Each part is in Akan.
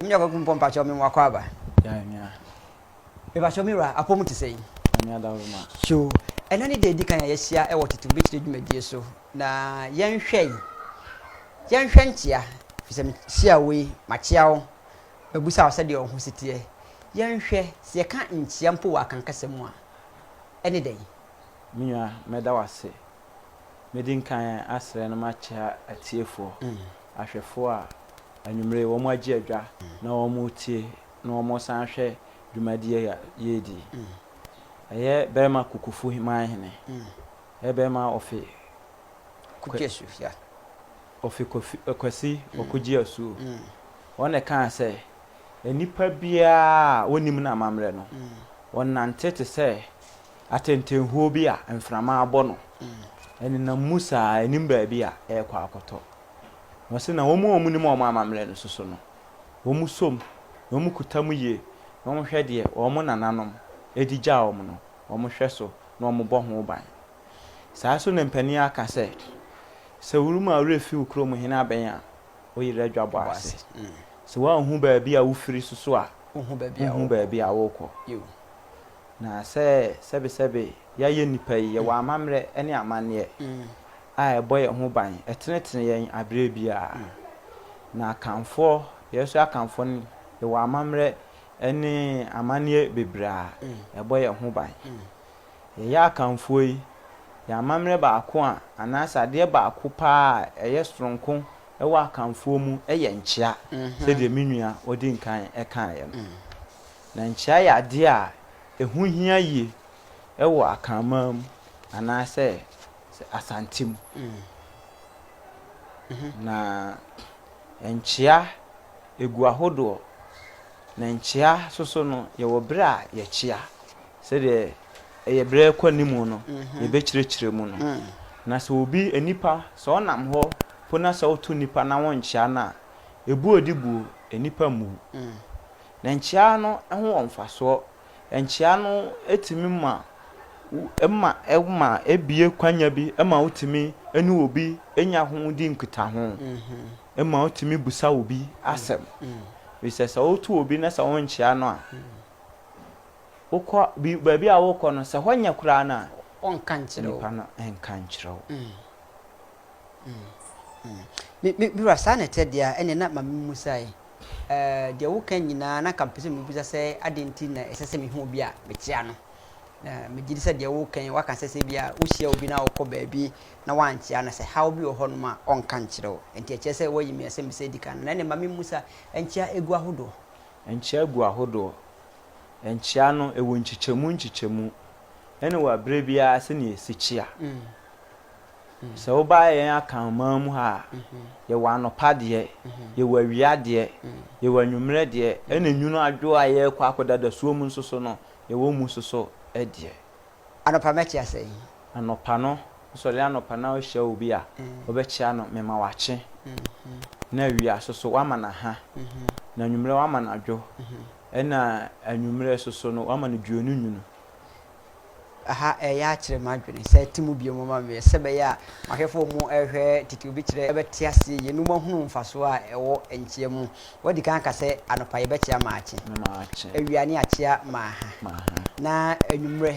nyɛ kɔkɔ mpɔ mpakyɛ ɔmo wakɔ aba mepakyɛ ɔmo wura apɔ mu te sɛ yi so ɛna ne deɛ edi kan a yɛahyia ɛwɔ tete bɛkyerɛ dwumadie so na yɛnhwɛ yi yɛnhwɛ nkyea fisɛ mehyia wei makyea wo Bɛbisa wo sɛdeɛ wo ho si teɛ. Yɛnhwɛ, sɛ yɛka nkyea mpo wɔ akankasa mu a, ɛne dɛn? Me nua, mɛda wo ase. Mɛdi nkan asrɛ na makyea atiefoɔ, ahwɛfoɔ a anwummerɛ yi wɔagye adwa na wɔretie na wɔresan ahwɛ dwumadie yi a yɛredi yi. Ɛyɛ Bɛrima Kukufu Manhene, ɛyɛ Bɛrima Ofe Kukyesu. Ofi Kwasi Ɔkogye Asuo, wɔn na ɛkaa sɛ, Nnipa biara a wɔnnim n'amammerɛ no, ɔnante te sɛ atɛntɛnhuo bi a mframa abɔ no. Ɛnenam mu saa, ɛnnim baabi a ɛrekɔ akɔtɔ. Na ɔse na wɔn a wɔnim wɔn amammerɛ no soso no, wɔn som na wɔn kuta mu yie na wɔhwɛ deɛ wɔn nananom de gyaa wɔn no, wɔhwɛ so na wɔbɔ ho ban. Saa nso na mpanin aka sɛ, Sɛ wo rema wo werɛ fi wo kurom hene abɛn a, wo yerɛ adwabɔ ase. Sɛ woanhu baabi a wofiri soso a, wonhu baabi a worekɔ. Na sɛ sɛbesɛbe yɛayɛ nnipa yi, yɛwɔ amammerɛ ne amanneɛ a ɛbɔ yɛn ho ban, ɛtenetene yɛn berɛ biara. Na akanfoɔ, yɛn so akanfoɔ no, yɛwɔ amammerɛ ne amanneɛ bebree a ɛbɔ yɛn ho ban. Yɛyɛ Akanfoɔ yi, yɛn amammerɛ baako a, anaasɛ adeɛ baako pa ara a ɛyɛ sononko wɔ Akanfoɔ mu yɛ nkyea, sɛdeɛ me nua a ɔdi nkan kaeɛ no. Na nkyea yɛ adeɛ a ɛho hia yie wɔ Akanman mu anaasɛ Asante mu. Na nkyea, ɛgu ahodoɔ. Na nkyea nso so no, yɛwɔ berɛ a yɛkyea. Sɛdeɛ ɛyɛ berɛ rekɔ anim no, yɛbɛkyerɛkyerɛ mu no. Na sɛ obi, nnipa, sɛ ɔnam hɔ mpo na sɛ woto nnipa na wonkyea no a, ɛbu a ɔde buo nnipa mmu. Na nkyea no ho wɔ mfasoɔ. Nkyea no tumi ma wo, ɛma, ɛma ɛbue kwanya bi ma wotumi ne obi nya ho di nkutaho. Ɛma wotumi bisa obi asɛm. Ɛfiri sɛ sɛ woto obi na sɛ wonkyea no a, Wokɔ bi, baabi a worekɔ no, sɛ hɔ nyɛ koraa no a. Wɔnka nkyerɛ wo. Nnipa no nka nkyerɛ wo. Mm. Mm. Mm. Me, me, me wura, saa na ɛteɛ deɛ a, ɛnneɛ na ma memmusae. Eh, deɛ woka nyinaa, na anka mepɛ sɛ mebisa sɛ, adɛn nti na ɛsɛ sɛ mehu obi a mekyea no? Na megye di sɛ deɛ woka yi, woaka sɛ sɛ ebia wohyia obi na wokɔ baabi na woankyea no, sɛ haw bi wɔ hɔnom a, ɔnka nkyerɛ wo. Enti ɛkyerɛ sɛ woayi me asɛmmisa a edi kan no. Na ɛnneɛ ma memmusa, nkyea gu ahodoɔ? Nkyea gu ahodoɔ. Nkyea no, ɛwɔ nkyekyɛmu nkyekyɛmu, ɛna wɔ berɛ biara sɛdeɛ ɛsi kyea. Sɛ woba yɛn Akanman mu ha a, yɛwɔ anɔpa deɛ, yɛwɔ awia deɛ, yɛwɔ anwummerɛ deɛ, ɛna nwunu adwo a yɛrekɔ akɔda dasuo mu nso so no, yɛwɔ mu nso so deɛ. Anɔpa mɛkyea sɛn? Anɔpa no, wosɔre anɔpa na wohyia obi a, wobɛkyea no mema wakye, na awia nso so woama no aha, na anwummerɛ woama no adwo, Ɛna anwummerɛ soso no wama no dwuo no nwunu. Aha ɛyɛ akyere m'adwene sɛ te mu bio moma meɛ sɛ bɛyɛ a mahwɛfoɔ ɔmo ɛhwɛ tete obi kyerɛ ɛbɛte aseɛ yie no mo ahunu mfasoɔ a ɛwɔ nkyea mu wadi kan aka sɛ anɔpa yɛbɛkyea maakye awia ne akyea maaha na anwummerɛ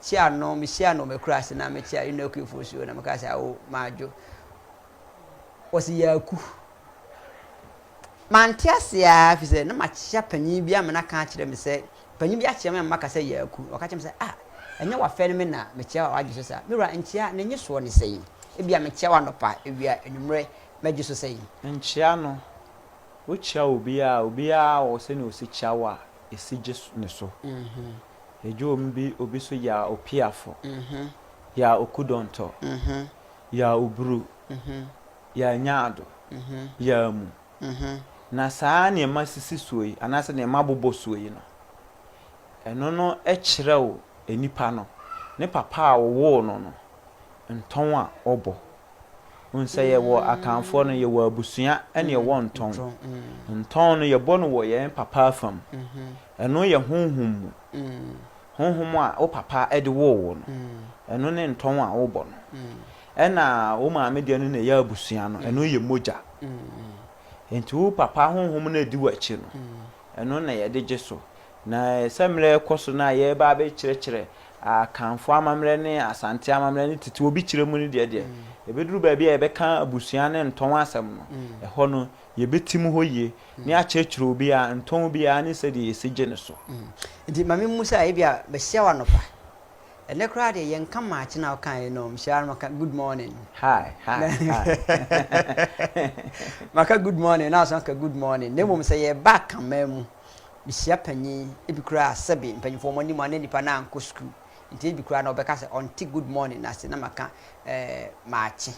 Kyea no, mehyia no wɔ m'akuraase na mekyea Eno Akuifo nso na meka sɛ, Awo, Madwo. Ɔse, Yaaku. Mante ase aa firi sɛ na makyea panyin bi ama no aka akyerɛ me sɛ, panyin bi akyea me ama maka sɛ Yaaku. Ɔka kyerɛ me sɛ, Ah, ɛnyɛ w'afɛ no me na mekyea wo a w'agye so saa? Me wura, nkyea, ne nyesoɔ ne sɛn? Ebia mekyea wo anɔpa, awia, anwummerɛ, m'agye so sɛn? Nkyea no, wokyea obiara a, obiara wɔ sɛnea ɔsi kyea wo a, ɛsi gye ne so. Edwoom bi obi so yaa opiafo, yaa okudɔntɔ, yaa oburu, yaa nyaado, yaa mu. Na saa nneɛma sisi soɔ yi, anaasɛ nneɛma bobɔ soɔ yi no, ɛno no kyerɛw nnipa no, ne papa a ɔwoo no no, ntɔn a ɔbɔ. Wohu sɛ yɛwɔ Akanfoɔ no, yɛwɔ abusua ɛne ɛwɔ ntɔn. Ntɔn no yɛbɔ no wɔ yɛn papa afa mu. Ɛno yɛ honhom mu. Honhom a wo papa de woo wo no, ɛno ne ntɔn a wobɔ no. Ɛna wo maame deɛ no na ɛyɛ abusua no, ɛno yɛ mogya. Nti wo papa honhom no a ɛdi w'akyi no, ɛno na yɛde gye so. Na sɛ mmerɛ rekɔ so no a yɛreba abɛkyerɛkyerɛ Akanfoɔ amammerɛ ne Asante amammerɛ ne tete obi kyerɛ mu no deɛ deɛ, ɛbɛduru baabi a yɛbɛka abusua ne ntɔn asɛm no, ɛhɔ no yɛbɛtim hɔ yie ne akyerɛkyerɛ obi a ntɔn biara ne sɛdeɛ yɛsi gye no so. Nti ma me musa, ebia bɛhyia wo anɔpa? Ɛnɛ koraa deɛ yɛnka maakye no a wokaeɛ no, mehyia ara na maka good morning. Hi, hi, hi. Maka good morning na woasan aka good morning. Na mmom sɛ yɛreba Akanman mu. Mehyia panyin bi koraa a sɛbe mpanyimfo wɔn anim a na nnipa no ankɔ sukuu nti ebi koraa na ɔbɛka sɛ ɔnte good morning no ase na maka eh, maakye.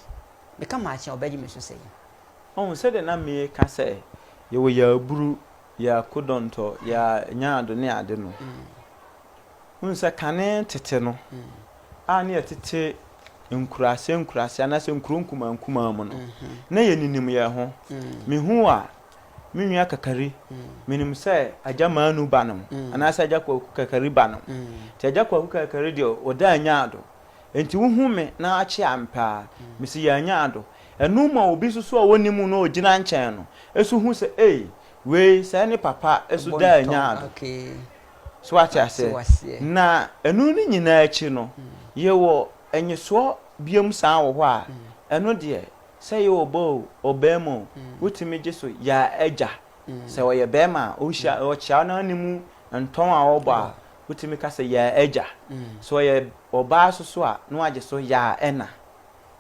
Meka maakye a ɔbɛgye me so sɛn? Ɔhu sɛdeɛ na meka sɛ yɛwɔ yɛn aburu, yɛn akodɔntɔ, yɛn nyaado ne ade no. Wohu sɛ kane tete no a na yɛtete nkuraase nkuraase anaasɛ nkuro nkumaa nkumaa mu no, na yɛninim yɛn ho. Mehuu a Me nua Kakari, menim sɛ Agya Manu ba nom, anaasɛ Agya Kwaku Kakari ba nom. Nti Agya Kwaku Kakari deɛ ɔda annya ado. Nti wohu me na akye ampe a, mese yɛannya ado. Ɛno ma obi nso so a ɔnnim wo na ɔgyina nkyɛn no nso hu sɛ ei, wei sɛɛ ne papa nso da annya ado. So wate aseɛ? Na ɛno ne nyinaa akyi no, yɛwɔ nnyesoɔ biom san wɔ hɔ a, ɛno deɛ Sɛ ɔyɛ ɔbaa oo, ɔbarima oo, wotumi gye so yɛ agya. Sɛ ɔyɛ barima a, ɔhyia, ɔkyea no ara ne mu ntɔn a ɔbɔ a, wotumi ka sɛ yɛ agya. Sɛ ɔyɛ ɔbaa nso so a, na wagye so yɛ ɛna.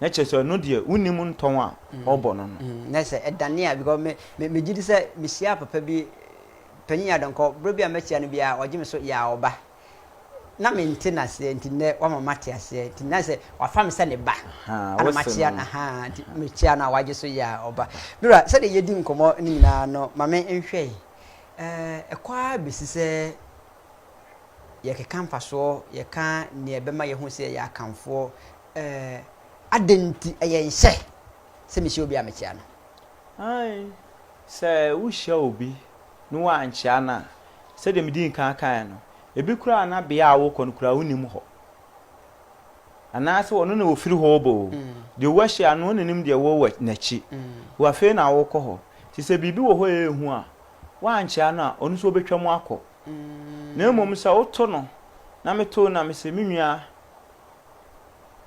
Na kyerɛ sɛ ɛno deɛ wonnim ntɔn a ɔbɔ no no. Na sɛ ɛdane a, because me, me, megye di sɛ mehyiaa papa bi, Panyin Adɔnkɔ, berɛ bi a mɛkyia no biara, ɔgye me so yɛ ɔba. na mente no aseɛ, nti nnɛ wama mate aseɛ, nti na sɛ wafa me sɛ ne ba, ana makyea no, ahaa, nti mekyea no a wagye so yɛ a ɔba. Me wura, sɛdeɛ yɛdi nkɔmmɔ no nyinaa no, ma me nhwɛ yi, ɛkɔ ara bɛsi sɛ yɛkeka mfasoɔ, yɛka deɛ ɛbɛma yɛahu sɛ yɛyɛ Akanfoɔ, adɛn nti ɛyɛ nhyɛ sɛ mehyia obi a mekyea no? Aane. Sɛ wohyia obi ne woankyea no a, sɛdeɛ medii nkan kaeɛ no, ebi koraa na bea a wokɔ no koraa wonnim hɔ. Anaasɛ ɔno na ɔfiri hɔ reba oo, deɛ woahyia no ɔnnim deɛ wowɔ n'akyi. Wo afei na worekɔ hɔ. Nti sɛ biribi wɔ hɔ a ɛyɛ hu a, woankyea no a, ɔno nso ɔbɛtwam akɔ. Na mmom sɛ woto no, na meto no na mese, Me nua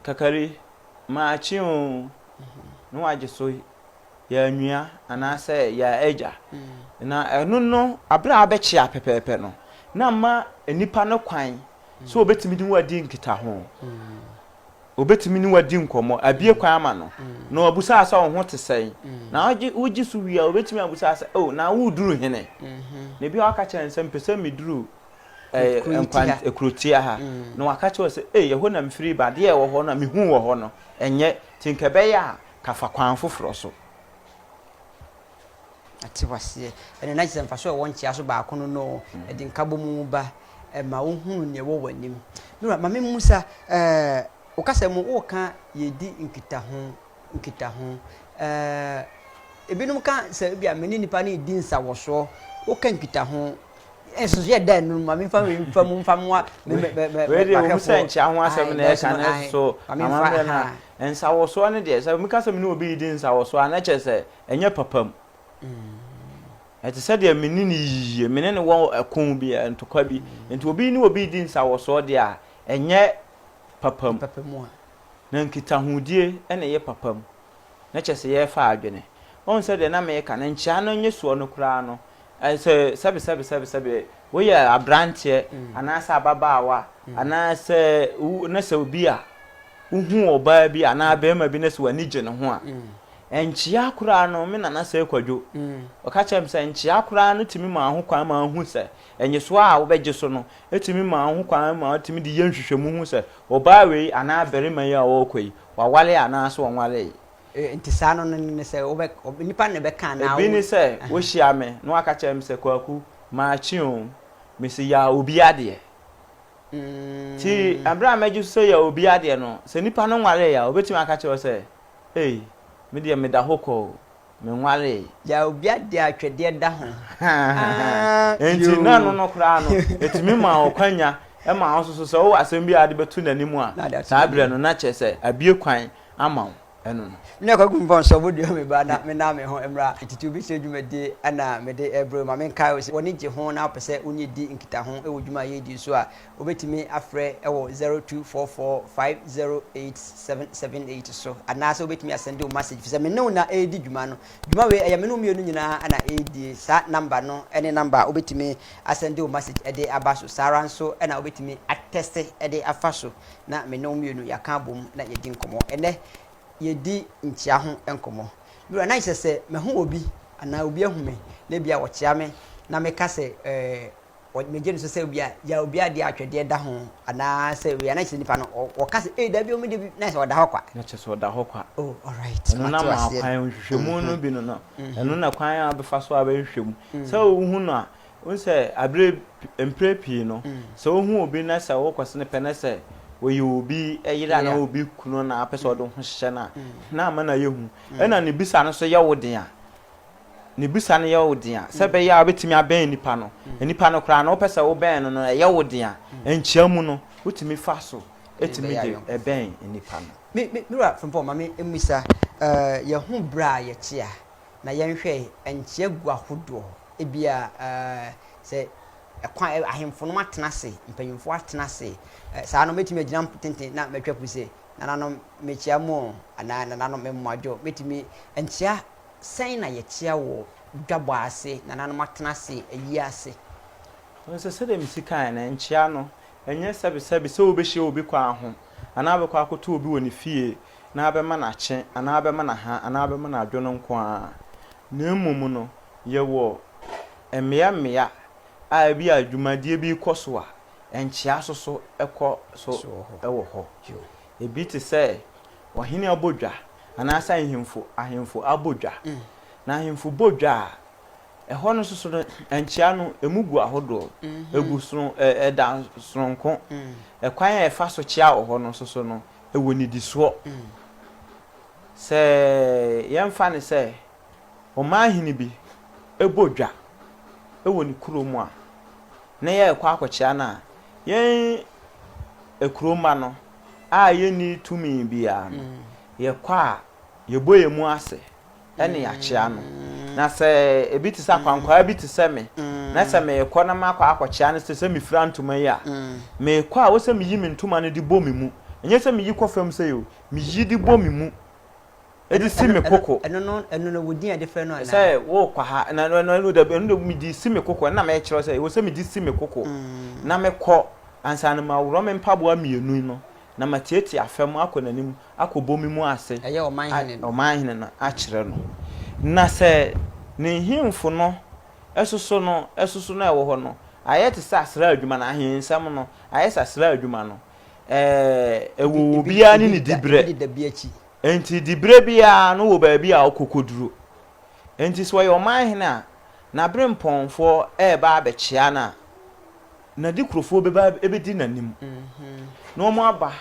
Kakari, maakye oo, na wagye so. yɛn nua anaasɛ yɛn agya. Na ɛno no, bere a abɛkyea pɛpɛɛpɛ no, na ama nnipa no kwan sɛ wɔbɛtumi ne wo adi nkitaho. Wɔbɛtumi ne wo adi nkɔmmɔ, abue kwan ama no, na wɔabisa wo sɛ wo ho te sɛn. Na wogye so wie a, wɔbɛtumi abisa wo sɛ, O, na woreduru hene? Na ebi a wɔaka kyerɛ no sɛ, Mepɛ sɛ meduru kurotia ha. Na wɔaka kyerɛ wo sɛ, Ei, ɛhɔ na mefiri ba, adeɛ a ɛwɔ hɔ no a mehuu wɔ hɔ no, ɛnyɛ. Nti anka ɛbɛyɛ a, Ka fa kwan foforɔ so. Ate wo aseɛ. Ɛnna na kyerɛ sɛ mfasoɔ a ɛwɔ nkyea so baako no no, ɛde nkabom ba. Ɛma wohunu nea ɛwɔ w'anim. Me wura, ma memmisa, eh, wo kasa mu woreka yɛredi nkitaho, nkitaho. Eh, ebinom ka sɛ ebia me ne nnipa no redi nsawɔsoɔ. Woka nkitaho nso yɛ dɛ no ma mefa wei mfa mu mfa mmoa wɔmu sɛ nkyea ho asɛm na ɛka no so amammerɛ no a nsawɔsoɔ no deɛ sɛ meka sɛ me ne obi redi nsawɔsoɔ a na kyerɛ sɛ ɛnyɛ papa mu ɛte sɛ deɛ me ne no yiyie me ne no wɔ ɛko bi ntokwa bi nti obi ne obi redi nsawɔsoɔ deɛ a ɛnyɛ papa mu na nkitahodie na ɛyɛ papa mu na kyerɛ sɛ yɛrefa adwene. Woahu sɛ deɛ na mereka no, nkyea no nyɛ soɔ no koraa no, sɛ sɛbesɛbesɛbesɛbe woyɛ aberanteɛ anaasɛ ababaawa anaasɛ na sɛ obi a wohu ɔbaa bi anaa barima bi na sɛ w'ani gye ne ho a, nkyea koraa no, me nana sɛ Kwadwo, ɔka kyerɛ me sɛ nkyea koraa no tumi maa ho kwan maa ɔhu sɛ nnyesoɔ a wobɛgye so no tumi maa ho kwan ma ɔtumi de yɛ nhwehwɛmu hu sɛ ɔbaa wei anaa barima yi a ɔrekɔ yi, wɔaware anaasɛ wɔnwaree. Enti saa no no ne sɛ wobɛ, nnipa na ɛbɛka anaa wo. Ebi ne sɛ, wohyia me na wɔaka kyerɛ me sɛ, Kwaku, makye o, mese ya obi adeɛ. Nti bere a mɛgye so sɛ ya obi adeɛ no, sɛ nipa no nwaree a, obetumi aka akyerɛ wo sɛ, Ei, me deɛ meda hɔ kwa o. menwaree. Gyaa obi adeɛ a twɛdeɛ da ho. Enti na ɛno no koraa no, ɛtumi maa wo kwanya maa wo nso so sɛ wowɔ asɛm bi a wode bɛto n'anim a, saa berɛ no na kyerɛ sɛ abue kwan ama wo ɛno no. Ná Kwaku Mfɔnsɔ bɔ dua me ba na menam me ho mmra titiriw bi sɛ dwumadie na mede rebrɛ wo ma menkae wo sɛ w'ani gye ho na wopɛ sɛ wo ne yɛdi nkitaho wɔ dwuma a yɛredi nso a, Wobɛtumi afrɛ wɔ 0244508778 so anaasɛ wobɛtumi asɛnde wo masage fisɛ me ne wo na ɛredi dwuma no. Dwuma wei ɛyɛ me ne wo mmienu nyinaa na ɛredie. Saa number no ne number a wobɛtumi asɛnde wo masage de aba so. Saa ara nso na wobɛtumi atɛste de afa so na me ne wo mmienu yɛaka abom na yɛadi nkɔmmɔ. Ɛnnɛ yɛredi nkyea ho nkɔmmɔ. Me wura, na nkyerɛ sɛ mahu obi anaa obi ahu me na ebia wɔkyea me na meka sɛ ɛɛ. Wɔde no gye no so sɛ obi a ya obi a deɛ atwɛdeɛ da ho anaa sɛ wei a na kyerɛ sɛ nipa no ɔ wɔka sɛ ei dabi ɔmo de bi na kyerɛ sɛ ɔda hɔ kwa. Na kyerɛ sɛ ɔda hɔ kwa. Oh alright Ɛno na mate ma aseɛ. kwan nhwehwɛmu no bi no no ɛno na kwan a wobɛfa so a bɛhwehwɛ mu sɛ wohu no a wohu sɛ aberɛ pi mprɛ pii no sɛ wohu obi na sɛ wokɔse no pɛ na sɛ ɔyɛ obi yere anaa obi kunu na apɛ sɛ ɔde wo ho hyehyɛ no a na ama no ayɛ hu ɛna ne bisa no nso yɛ wo den a Ne bisa no yɛ wo dea sɛ ɛbɛyɛ a wobɛtumi abɛn nipa no. Nipa no koraa no, wopɛ sɛ wobɛn no no, ɛyɛ wo dea. Nkyia mu no, wotumi fa so tumi de bɛn nipa no. Me Wura Frimpong, ma me mmisa, yɛ ho berɛ a yɛkyea na yɛn hwɛe nkyia gu ahodoɔ, ebia sɛ ɛkwan, ahemfo nom atena ase, mpanyinfoɔ atena ase, saa no mɛtumi agyina tenten na matwa puse, Nananom mekyia mo o, anaa Nananom me mmoadwo, mɛtumi nkyia Sɛn na yɛteɛ wɔ dwabɔ ase? Nananom atena ase ayi ase. Nanso sɛdeɛ mesi kaeɛ no, nkyea no, ɛnyɛ sɛbesɛbe sɛ wobɛhyia obi kwan ho, anaa wobɛkɔ akɔto obi wɔ ne fie na abɛma no akye, anaa abɛma no aha, anaa abɛma no adwo no nko ara, na mmom no, yɛwɔ mmea mmea a ebia dwumadie bi rekɔ so a, nkyea nso so kɔ so wɔ hɔ. Ebi te sɛ ɔhene abodwa anaasɛ ahemfo ahemfo abodwa. Na ahemfo bodwa a, ɛhɔ no soso no, nkyea no, emu gu ahodoɔ. Egu sono ɛ ɛda sononko. Ɛkwan a yɛfa so kyea wɔ hɔ no soso no, ɛwɔ nnidisoɔ. Sɛ yɛmfa no sɛ. ɔmanhene bi bɔ dwa wɔ ne kurom a, na yɛrekɔ akɔkyea no a, yɛn akurom mma no a yɛnni tumi biara no, yɛkɔ a, yɛbɔ yɛn mu ase ne yɛakyea no. Na sɛ ebi te sɛ akwankwaa bi te sɛ me, na sɛ merekɔ na makɔ akɔkyea no, te sɛ mefira ntoma yi a, mekɔ a, wɔ sɛ meyi me ntoma no de bɔ me mu. Ɛnyɛ sɛ meyi kɔ fam sei o, meyi de bɔ me mu. Ɛde si me koko. Ɛno no, ɛno no, wo din a yɛde frɛ no anaa? Sɛ worekɔ ha, na ɛno ɛno ɛno dabi, ɛno de mede si me koko, ɛno na merekyerɛ wo sɛ ɛwɔ sɛ mede si me koko na mekɔ, ansa no maworɔ me mpaboa mmienu no, na mateetee afa mu akɔ n'anim akɔbɔ me mu ase, Ɛyɛ ɔmanhene no. ɔmanhene no, akyerɛ no. Na sɛ ne nhemfo no soso no, soso no a ɛwɔ hɔ no, ayɛ te sɛ asraadwuma no, ahensɛm no ayɛ sɛ asraadwuma no, ɛɛ, ɛwɔ Ebi- ebi- obiara ne ebi ne da- diberɛ. Ebi de da bi akyi. Enti diberɛ biara no wɔ baabi a ɔkɔkɔduru. Enti sɛ ɔyɛ ɔmanhene a, n'aberempɔnfoɔ reba abɛkyea no a, n'adekurofoɔ bɛba abɛdi n'anim, na wɔaba,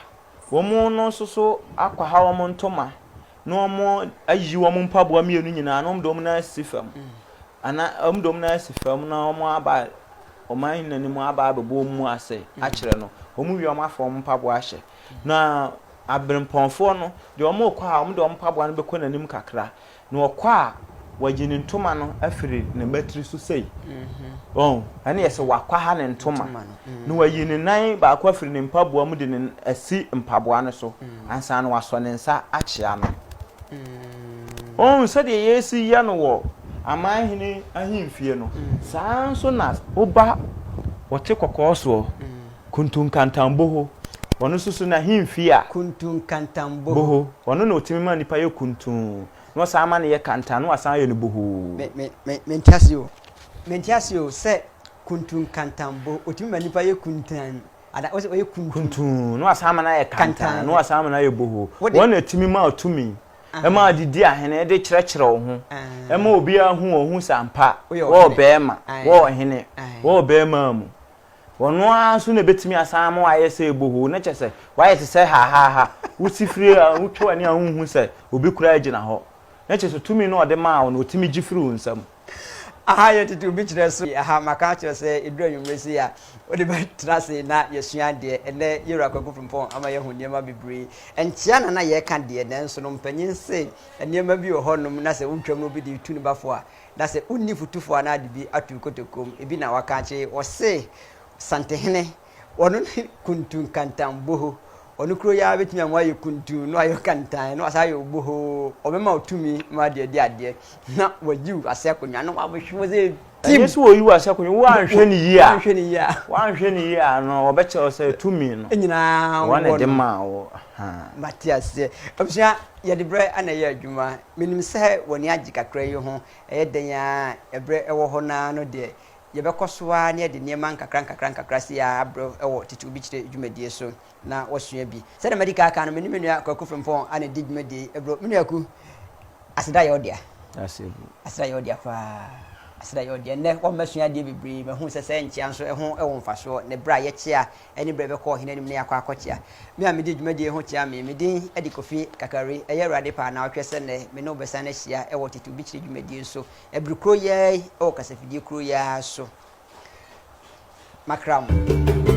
wɔn no nso so akwaha wɔn ntoma, na wɔayiyi wɔn mpaboa mmienu nyinaa, na wɔde wɔn nan asi fam, anaa wɔde wɔn nan asi fam, na wɔaba ɔmanhene no anim aba abɛbɔ wɔn mu ase akyerɛ no. Wɔwie wɔn afa wɔn mpaboa ahyɛ, Na abirɛmpɔnfoɔ no, deɛ wɔrekɔ a, wɔde wɔn mpaboa no bɛkɔ n'anim kakra, na wɔkɔ a, wɔagye ne ntoma no afiri ne mmatiri so sei. Wɔn, ɛne yɛ sɛ wakwaha ne ntoma, na wayi ne nan baako afiri ne mpaboa mu de ne asi mpaboa no so, ansa na wasɔ ne nsa akyea no. Wɔn, sɛdeɛ yɛsi yɛ no wɔ aman hene ahemfie no, saa ara nso na woba wɔte kɔkɔɔ soɔ. Kuntunkantanboho, Ɔno nso so n'ahemfie a. Kuntunkantanboho, Ɔno na ɔtumi ma nipa yɛ kuntun, na ɔsan ma no yɛ kantan, na wasan ayɛ no bohoo. Me, me, me, mente aseɛ o. Mente aseɛ o sɛ kuntunkantanboho, ɔtumi ma nipa yɛ kuntan, anaa wose ɔyɛ kuntun. Kuntun, na wasan ama no ayɛ kantan, Kantan. na wasan ama no ayɛ bohoo. Wode- Wɔn na ɛtumi ma wo tumi, ɛma wo de di ahene, de kyerɛkyerɛ wo ho, Ahaa. ɛma obiara hu wo, ɔhu sɛ ampa Woyɛ wɔ ɔhene. bɛrima, Ae. wɔ ɔhene, Ae. wɔ bɛrima mu. Ɔno ara nso na ebetumi asan ama wayɛ sɛ bohoo, na kyerɛ sɛ, wayɛ te sɛ hahaaha. Wusi firi a, wotwa w'ani a wunhu sɛ obi koraa gyina hɔ. Na kyerɛ sɛ, tumi no a ɔde maa wo no, otumi gye firi wo nsam. Aha yɛ tete obi kyerɛ so. Aha maka akyerɛ sɛ eduru anwummere sei a, wode bɛtena ase na yɛasua adeɛ. Ɛnnɛ, yɛn Wura Kwaku Frimpong ama yɛahu nneɛma bebree. Ɛnkyea na na yɛreka deɛ, nanso no, mpanyin se nneɛma bi wɔ hɔnom na sɛ wotwam na obi de tu ne ba fo a, Na sɛ wonni fotufo anaa de bi ato kotokuo mu, ebi na waka akyere, wɔse Santehene, ɔno ne Kuntu Nkantanboho, ɔno kuro yi ara bɛtumi ama wayɛ Kuntu, na wayɛ Ɔkantan, na wasan ayɛ Oboho, ɔbɛma wo tumi ma wode adi adeɛ, na wayi wo ase akonnwa, na wabɛhwe wo sɛ tim. Ɛnyɛ sɛ wɔyi wo ase akonnwa, woanhwɛ no yie a, Woanhwɛ no yie a. woanhwɛ no yie a no, wɔbɛkyerɛ wo sɛ tumi no, Nyinaa wɔn na wɔ ɛde no. maa wo. Ahaa. Mate aseɛ. Abusua, yɛde berɛ na ɛyɛ adwuma. Menim sɛ w'ani agye kakra yi ho, ɛyɛ dɛn ara berɛ wɔ hɔ no ara no deɛ, yɛbɛkɔ so ara na yɛde nneɛma nkakrankakra sei ara abrɛ wo wɔ Tete Obi Kyerɛ dwumadie so na woasua bi. Sɛdeɛ madi kan aka no, me ne me nua Kwaku Frimpong na ɛdi dwumadie yi brɛ wo. Me nua Ku, aseda yɛ wo dea. Aseda yɛ wo dea paa. Aseda yɛ wo dea. Nnɛ, woama masua adeɛ bebree. Mahunu sɛ sɛ nkyea nso ho wɔ mfasoɔ, ne berɛ a yɛkyea anibere bɛkɔ ɔhene anim na yɛakɔ akɔkyea. Me a midi dwumadi yi ho kyea me, me din de Kofi Kakari. Ɛyɛ Awurade pɛ a naawɔtwe sɛ nnɛ me ne wo bɛsan ahyia wɔ Tete Obi Kyiri dwumadie no so, bere korɔ yi ara yi wɔ kasafidie korɔ yi ara so. Makra mo.